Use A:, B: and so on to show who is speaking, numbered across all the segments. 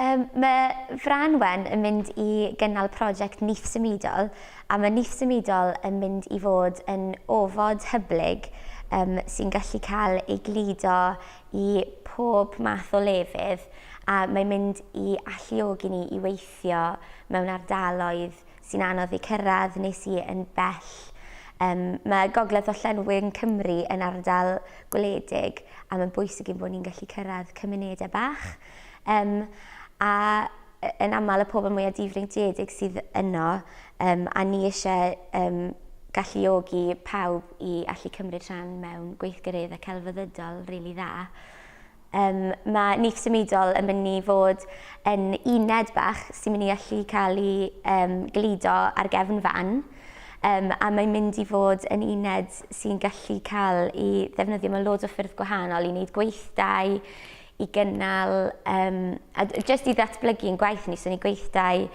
A: Um, mae Fran Wen yn mynd i gynnal prosiect Nyth Symudol a mae Nyth Symudol yn mynd i fod yn ofod hyblyg um, sy'n gallu cael ei gludo i pob math o lefydd a mae'n mynd i alluogi ni i weithio mewn ardaloedd sy'n anodd eu cyrraedd neu sy yn bell. Um, mae Gogledd Orllewin Cymru yn ardal gwledig a mae'n bwysig i'n bod ni'n gallu cyrraedd cymunedau bach. Um, a yn aml y pobl mwyaf difreintiedig sydd yno um, a ni eisiau um, galluogi pawb i allu cymryd rhan mewn gweithgareddau celfyddydol rili really dda. Yym, mae Nyth Symudol yn mynd i fod yn uned bach sy'n mynd i allu cael ei yym gludo ar gefn fan, yym, a mae'n mynd i fod yn uned sy'n gallu cael ei ddefnyddio mewn loads o ffyrdd gwahanol i wneud gweithdai, i gynnal yym, a d- jyst i ddatblygu ein gwaith ni, so ni gweithdai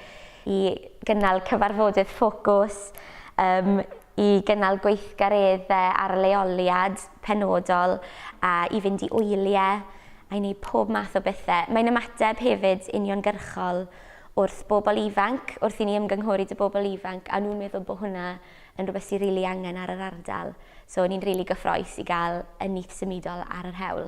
A: i gynnal cyfarfodydd ffocws, yym, i gynnal gweithgareddau ar leoliad. penodol, a i fynd i wyliau, a i wneud pob math o bethau. Mae'n ymateb hefyd uniongyrchol wrth bobl ifanc, wrth i ni ymgynghori 'da bobl ifanc, a nhw'n meddwl bod hwnna yn rhywbeth sydd rili angen ar yr ardal. So ni'n rili gyffrous i gael y nyth symudol ar yr hewl.